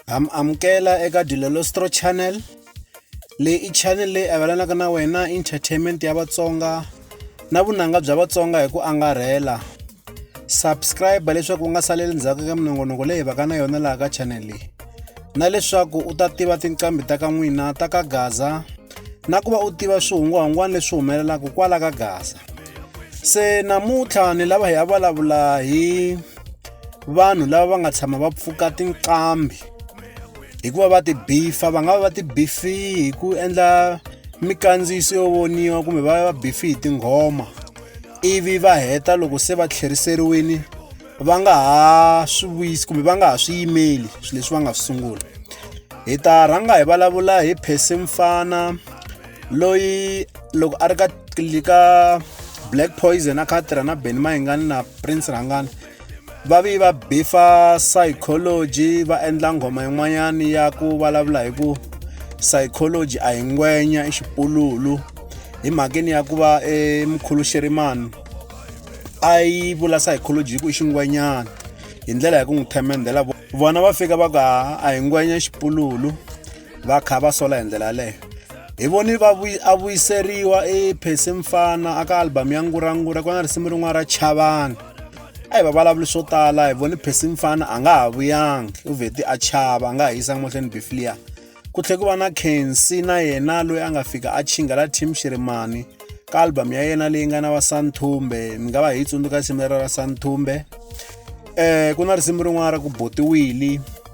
am amukela eka dilolostro channel leyi i channel leyi avelanaka na wena entertainment ya vatsonga na vunanga bya vatsonga hi ku angarhela subscribe leswaku u nga saleli ndzhaku ka minongonoko leyi vaka na yona laha ka channel leyi na leswaku u ta tiva tinqambi ta ka n'wina ta ka gaza na ku va u tiva swihungwahungwana leswi humelelaka kwala ka gaza se namuntlha ni lava hi ya vulavula hi vanhu lava va nga tshama va pfuka tinqambi hikuva va ti bifa va nga va va ti bifi hi ku endla mikandziyiso yo voniwa kumbe va va bifi hi tinghoma ivi va heta loko se va tlheriseriwini va nga ha swi vuyisi kumbe va nga ha swi yimeli swilo leswi va nga swi sungula hi ta rhanga hi vulavula hi phese mfana loyi loko a ri ka ka black poison a kha a tirha na beni mayingani na prince rhangani va vi va bifa psychology va endla nghoma yin'wanyana ya ku vulavula hi ku psychology a hi ngwenya i xipululu hi mhakeni ya ku va emukhulu xerimani a yi vula psychology hi ku i xingwenyana hi ndlela ya ku n'wi themendhela vona va fika va ku a hi ngwenya xipululu va kha va sola hi ndlela yaleyo hi voni va a vuyiseriwa i phesi mfana aka album ya ngurangura ku na risimu rin'wana ra chavana a hi va vulavuli swo tala hi voni phesi mfana a nga ha vuyangi u vheti a chava a nga ha yisanga mahlweni biflia ku tlhe ku va na kensi na yena loyi a nga fika a chingela team xirimani ka album ya yena leyi nga na va santhumbe mi nga va hi yi tsundzuka risimu lera ra santhumbe um ku na risimu rin'wana ra ku botiwili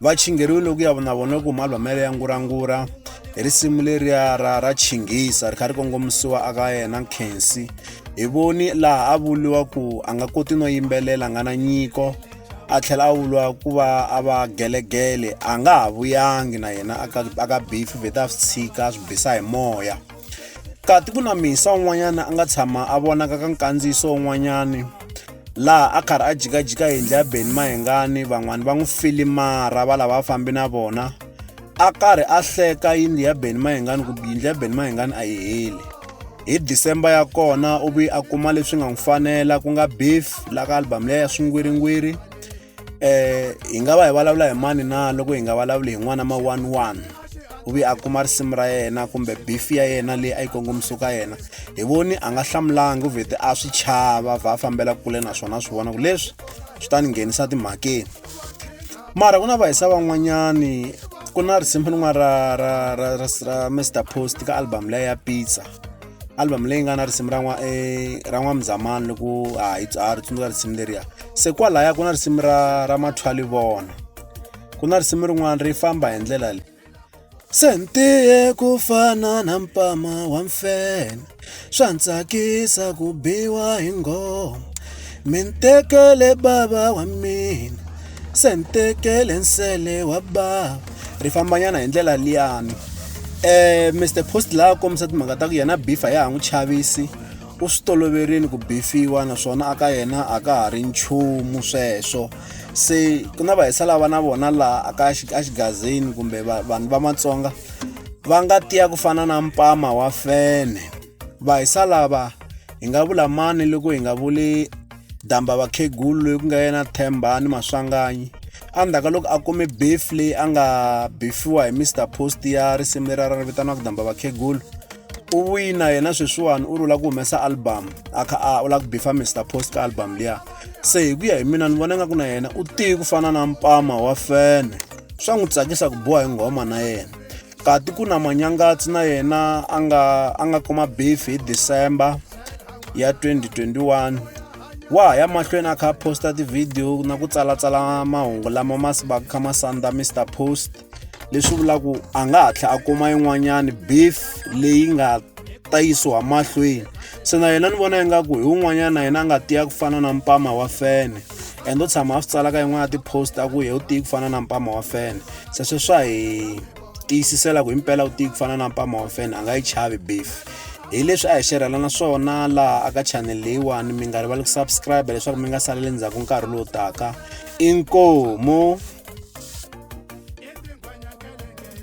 va chingheriwile ku ya na vona ku malwamelo ya ngurangura hi risimu leriya ra ra chinghisa ri kha ri kongomisiwa aka yena nkhensi hi voni laha a vuriwa ku a nga koti no yimbelela a nga na nyiko a tlhela a vuriwa ku va a va gelegele a nga ha vuyangi na yena aka bifi vhete a swi tshika a swi bisa hi moya kati ku na misa un'wanyana a nga tshama a vonaka ka nkandziyiso un'wanyani laha a karhi a jikajika yindlu ya beni mahengani van'wani va n'wi filimara va lava a fambi na vona a karhi a hleka yindlu ya beni mahengani ku yindlu ya beni mahengani a yi heli hi december ya kona u vi a kuma leswi nga n'wi fanela ku nga beef la ka album leyi ya swingwiringwiri eh hi nga va hi vulavula hi mani na loko hi nga vulavuli hi n'wana ma one one u ve a kuma risimu ra yena kumbe bifi ya yena leyi a yi kongomisiwe ka yena hi voni a nga hlamulanga u vhete a swi chava vha fambela kule naswona a swi vona ku leswi swi ta ni nghenisa timhakeni mara ku na vahisa van'wanyani ku na risimu rin'wana ra ra ra ra ra mr post ka album leya ya pizza album leyi nga na risimu ra n'wa eh, ra n'wamzamani loko a hi tswari tsundzuka risimu leriya se kwalaya ku na risimu ra ra mathwali vona ku na risimu rin'wana ri famba hi ndlela leyi sentiye ku fana na mpama wa mfene swa ntsakisa ku biwa hi ngoma mintekele bava wa mina Se ni tekele nsele wa bava ri fambanyana hi ndlela liyani eh Mr Post la a kombisa timhaka ta ku yena bifa ya ha n'wi chavisi u swi toloverini ku bifiwa naswona aka yena a ka ha ri nchumu sweswo se ku na vahisa lava na vona laha aka exigazini kumbe vanhu va matsonga va nga tiya ku fana na mpama wa fene vahisa lava hi nga vula mani loko hi nga vuli damba vakhegulu loyi ku nga yena themba ni maswanganyi endzhaku ka loko a kume beef leyi a nga bifiwa hi mr post ya risimu leri a ri vitaniwaka damba vakhegulu u wina yena sweswiwani u ri u lava ku humesa album a kha a u lava ku bifa mr post ka album liya se hi ku ya hi mina ni vona nga ku na yena u tiyi ku fana na mpama wa fene swa n'wi tsakisa ku biwa hi nghoma na yena kati ku na manyangatsi na yena a nga a nga kuma beef hi december ya 2021 wa ha ya mahlweni a kha a posta tivhidiyo na ku tsalatsala mahungu lama ma va kha ma sandza mr post leswi vulaku a nga hatla a kuma yin'wanyani beef leyi nga ta yisiwa mahlweni se na yena ni vona ingaku hi wun'wanyana na yena a nga tiya ku fana na mpama wa fene and o tshama a swi tsalaka yin'wana ya ti-post a ku hi u tiyi ku fana na mpama wa fene se swe swa hi tiyisisela ku himpela u tiyi ku fana na mpama wa fene a nga yi chavi beef hi leswi a hi xerhelana swona laha aka channel leyiwani mi nga rivali ku subscribe leswaku mi nga saleli ndzhaku nkarhi lowu taka inkomu